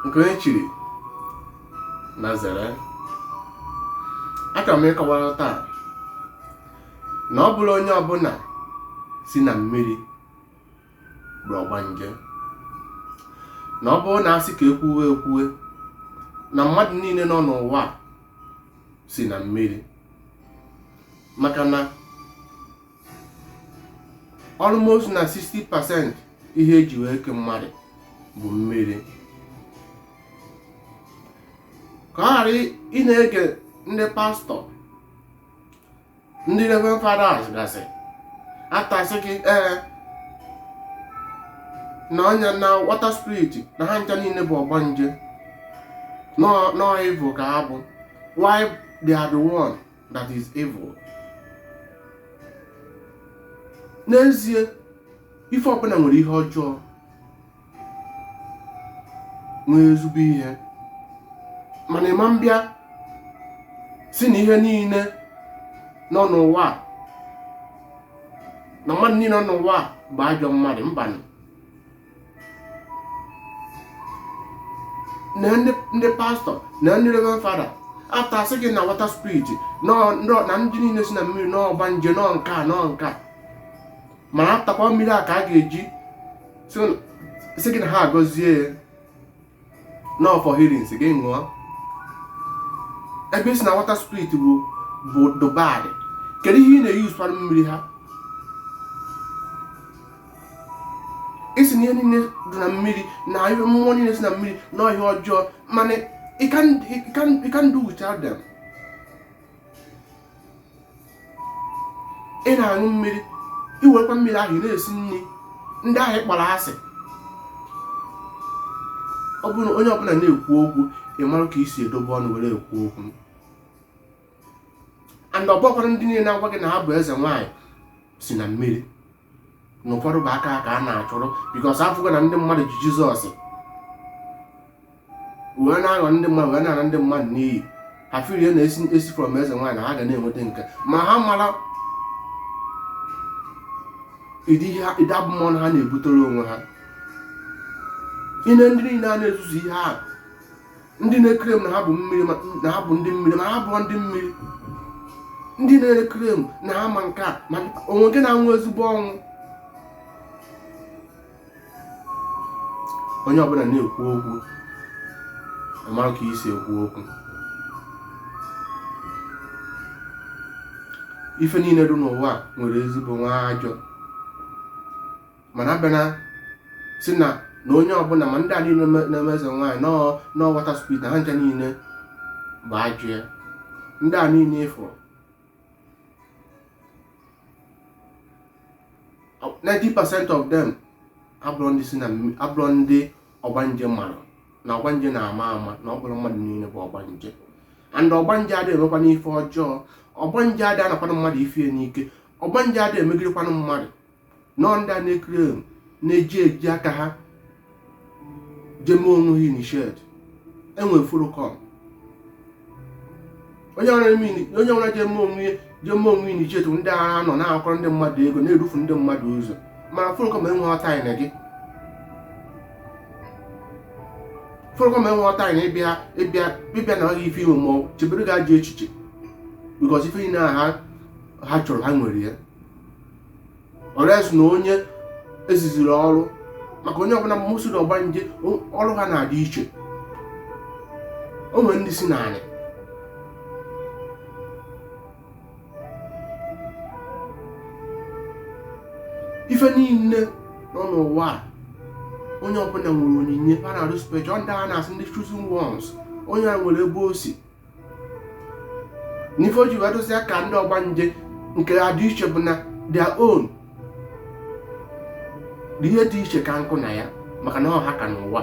nke onye chiri nya zere achọrọ m ịkọwara taa na ọ bụrọ onye ọbụla si na mmiri bụ ọgbanje na ọ bụrụ na a sị ka ekwuwe ekwuwe na mmadụ niile nọ n'ụwa si na mmiri maka na almost na 60 percent ihe eji wee kee mmadụ bụ mmiri ka ọ ghara ị na-ege ndị pastọ ndị reverend fathers gasị after asị gị ee na onye na water spirit na ha ncha niile bụ ọgbanje na ọ evil ka ha bụ while they are the one that is evil n'ezie ife ọbụla nwere ihe ọjọọ nwee ezigbo ihe mana ị ma mbịa sị na ihe niile nọ n'ụwa a, na mmadụ niile nọ n'ụwa a bụ ajọ mmadụ mbanụ na ndị pastọ na ndị reverend father after asị gị na water spirit na ndị niile si na mmiri na ọgbanje na ọ nke a na ọ nke a mana afterkwa mmiri a ka a ga-eji sị gị na ha agọzie ya na ọ for healing sị gị ṅụọ ebe ị sị na water spirit bụ bụ dị bad kedu ihe ị na-eyuz kwanụ mmiri ahụ ị sị na ihe niile dị na mmiri na ihe mmụọ niile si na mmiri na ọ ihe ọjọọ mana you can you can you can't do without them ị na-aṅụ mmiri i werekwa mmiri ahụ ị na-esi nri ndị ahụ ị kpọrọ asị ọ bụrụ na onye ọbụla na-ekwu okwu ị mara ka e si edobe ọnụ were ekwu okwu and ọ bụkwara ndị niile na-agwa gị na ha bụ eze nwaanyị si na mmiri na ụfọdụ bụ aka ka a na-achụrụ because afụgo na ndị mmadụ ji jizọs wee na-aghọ ndị mmadụ wee na-ana ndị mmadụ n'iyi ha firie na esi esi from eze nwaanyị ha ga na-enweta nke ma ha marọ ụdị ihe ha- ụdị abụmọnụ ha na-ebutere onwe ha ine ndị niile a na-ezuzu ihe ahụ ndị na-eclaim na ha bụ mmiri na ha bụ ndị mmiri ma ha abụrọ ndị mmiri ndị na-eclaim na ha ma nke a ma onwe gị na-anwụ ezigbo ọnwụ onye ọbụla na-ekwu okwu amara ka e si ekwu okwu ife niile dị n'ụwa nwere ezigbo nwee ajọ mana a bịa na-asị na na onye ọbụla ma ndị a niile na-eme eze nwaanyị na water spirit na ha ncha niile bụ ajọ ya ndị a niile ị fụ 90% of them abụrọ ndị sị na abụrọ ndị ọgbanje mara na ọgbanje na-ama ama na ọ bụrọ mmadụ niile bụ ọgbanje and ọgbanje adịghị emekwanụ ife ọjọọ ọgbanje adịghị anakwanụ mmadụ ife n'ike ọgbanje adịghị emegirikwanụ mmadụ na ọ ndị a na-ekiri emu na-eji eji aka ha je mee onwe ha initiate e nwee follow come onye ọra je mee onwe je mee onwe initiate ndị ahụ nọ na-akwara ndị mmadụ ego na-erufu ndị mmadụ ụzọ mana follow come enwerọ time na gị follow come enwerọ time na ịbịa ịbịa ịbịa nara gị ife i nwe ma chebere gị ajọ echiche because ife niile ha chọrọ ha nwere ya unless na onye eziziri ọrụ maka onye ọbụla mmosi na ọgbanje ọrụ ha na-adị iche o nwere ndị si n'ala ife niile nọ n'ụwa a onye ọbụla nwere onyinye a na-arụ special ndị a na-asị ndị chosen ones onye a nwere ebe o si n'ife o ji wee dozie ka ndị ọgbanje nke ha dị iche bụ na their own dị ihe dị iche ka nkụ na ya maka na ọha ka n'ụwa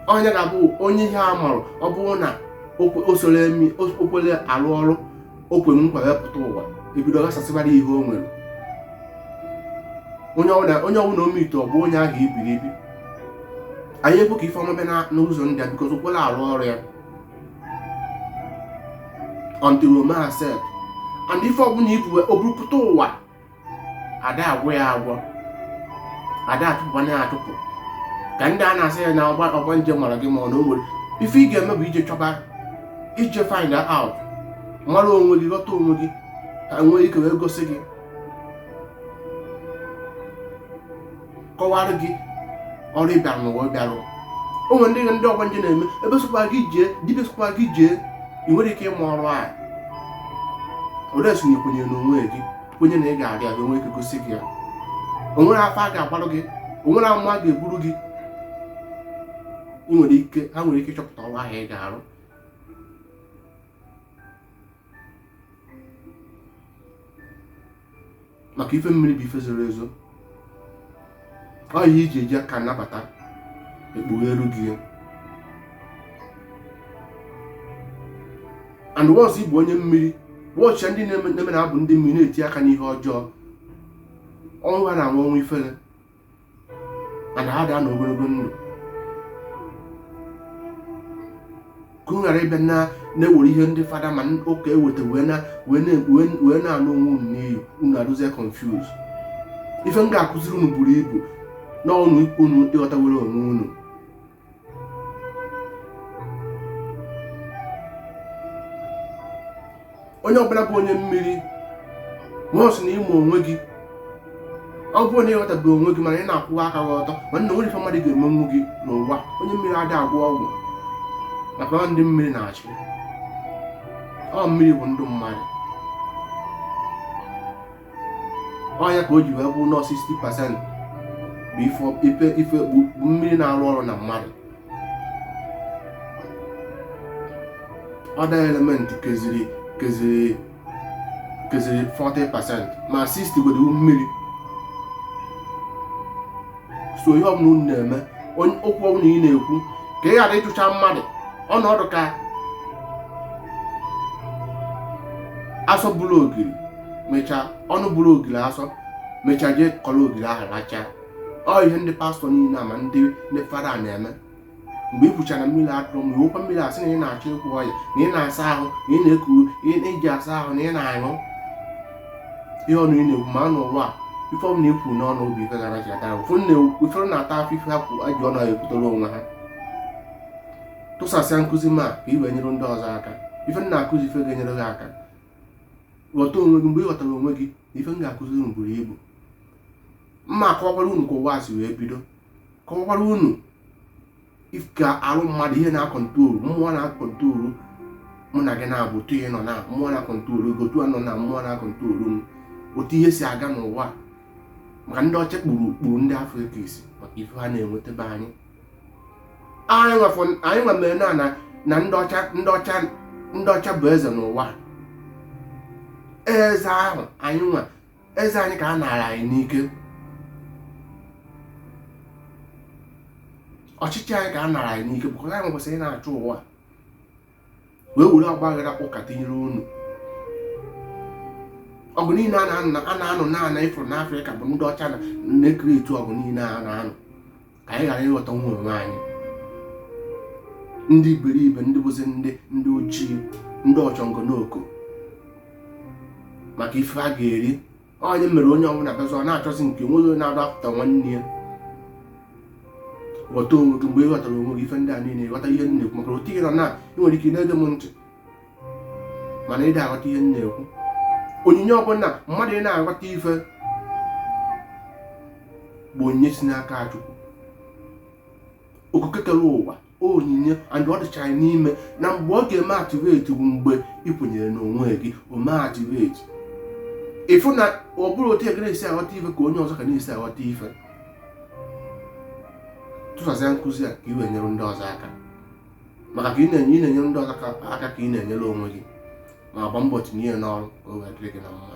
onye ga-abụ onye ihe a marụ ọ bụrụ na o kwerọ arụ ọrụ o kwe nkwa wee pụta ụwa e bido ghasasịbara ihe o nwere onye ọbụla o meet ọ bụ onye ahụ ibiri ibi anaghị ekwe ka ife ọma bịa n'ụzọ ndị a because o kwerọ arụ ọrụ ya until o mee accept and ife ọbụla ibu o buru pụta ụwa ada agwọ ya agwọ ada atụpụkwanụ ya atụpụ ka ndị a na-asị ya na ọgba ọgbanje mara gị mana o nwere ife ị ga-eme bụ ije chọba ije find out mara onwe gị ghọta onwe gị ka e nwee ike wee gosi gị kọwara gị ọrụ ị bịara ụwa bịa rụ o nwere ndị ndị ọgbanje na-eme ebe sọkwa gị jee dibịa sọkwa gị jee i nwerọ ike ịma ọrụ a unless na i kwenye n'onwe gị kwenye na ị ga-arụ ya e nwee ike gosi gị ya o nwere afa a ga-agbarụ gị o nwere amụma a ga-eburu gị ị nwere ike ha nwere ike ịchọpụta ọrụ ahụ ị ga-arụ maka ife mmiri bụ ife zoro ezo ọ ihe iji eji aka anabata ekpugheeru gị ya and once ị bụ onye mmiri wọchịa ndị na-eme na ha bụ ndị mmiri na-eti aka n'ihe ọjọọ ọnwụ ha na-anwụ ọnwụ ifere and ha adị anọ ogologo ndụ ka unu ghara ịbịa na-ewere ihe ndị fada ma ụka eweta wee na-anụ onwe unu n'iyi unu adịzie confuse ife m ga-akụziri unu buru ibu na ọnụ ikwu unu ịghọtawere onwe unu onye ọbụla bụ onye mmiri once na ị ma onwe gị ọ bụrụ na ịghọtabeghị onwe gị mana ị na-akwụwa aka gị ọtọ ma na o nwerọ ife mmadụ ga-emenwu gị n'ụwa onye mmiri adị agwọ ọgwụ maka ọ ndị mmiri na-achị ọ mmiri bụ ndụ mmadụ ọ ya ka o ji wee kwuo na 60 percent bụ ife ife bụ mmiri na-arụ ọrụ na mmadụ other element keziri 40 percent ma 60 gwere mmiri so ihe ọbụla unu na-eme okwu ọbụla ị na-ekwu ka ị ghara ịkọcha mmadụ ọ na-adị ka asọ bụrụ ogiri mechaa ọnụ bụrụ ogiri asọ mechaa jee kọrọ ogiri ahụ rachaa ọ ihe ndị pastọ niile a ma ndị fada na-eme mgbe ị kwuchara mmiri atụrụ ma iwekwa mmiri asị na ị na-achọ ịkwụ ọya na ị na-asa ahụ na ị na-eku iji asa ahụ na ị na-aṅụ ihe ọnụ ị na-ekwu ma n'ụwa a ife ọbụla i kwuru n'ọnụ ọ bụ ife gara ji ata ụfọdụ na-ata afụfụ ife ha ji ọnụ ha kwutere onwe ha tụsasịa nkụzi m a ka i wee nyere ndị ọzọ aka ife m na-akụzi ife ga-enyere gị aka ghọta onwe gị mgbe ị ghọtara onwe gị na ife m ga-akụziri unu buru ibu mma akọwakwara unu ka ụwa si wee bido kọwakwara unu ka arụ mmadụ ihe na-akọntrolu mmụọ na-akọntrolu mụ na gị na-abụ otu ihe nọ na mmụọ na-akọntrolu gị otu anọ na mmụọ na-akọntrolu m otu ihe si aga n'ụwa maka ndị ọcha kpuru kpuru ndị Africa isi maka ife ha na-enweta be anyị anyị nwa anyị nwa mere na ndị ọcha bụ eze n'ụwa eze ahụ anyị nwa eze anyị ka a naara anyị n'ike ọchịchị anyị ka a naara anyị n'ike bụkwa anyị kwesịrị ị na-achị ụwa wee were ọgbaghara ụka tinyere unu ọgụ niile a na-anụ n'ana ị fụrụ n'Afrịka bụ ndị ọcha na na-ekiri etu ọgụ niile a na-anụ ka anyị ghara ịghọta nwa onwe anyị ndị iberibe ndị bụzi ndị ndị ojii ndị ọchọngọ n'oko maka ife a ga-eri ọ ya mere onye ọbụla bụzi ọ na-achọzi nke nweghị onye na-adọpụta nwanne ya ghọta onwe gị mgbe ị ghọtara onwe gị ife ndị a niile ghọta ihe m na-ekwu maka otu ihe nọ na ị nwere ike na-ege m ntị mana ị da-aghọta ihe m na-ekwu onyinye ọ bụ na mmadụ ị na-aghọta ife bụ onyinye si n'aka Chukwu okike kere ụwa onyinye and ọ dịcha n'ime na mgbe ọ ga-eme activate bụ mgbe ị kwenyere n'onwe gị o mee activate ị fụ na ọ bụrụ otu ị ga na-esi aghọta ife ka onye ọzọ ka na-esi aghọta ife tụsasịa nkụzi a ka ị wee nyere ndị ọzọ aka maka ka ị na-enye ị na-enyere ndị ọzọ aka aka ka ị na-enyere onwe gị ma gba mbọ tinye ya n'ọrụ ka o wee dịrị gị na mma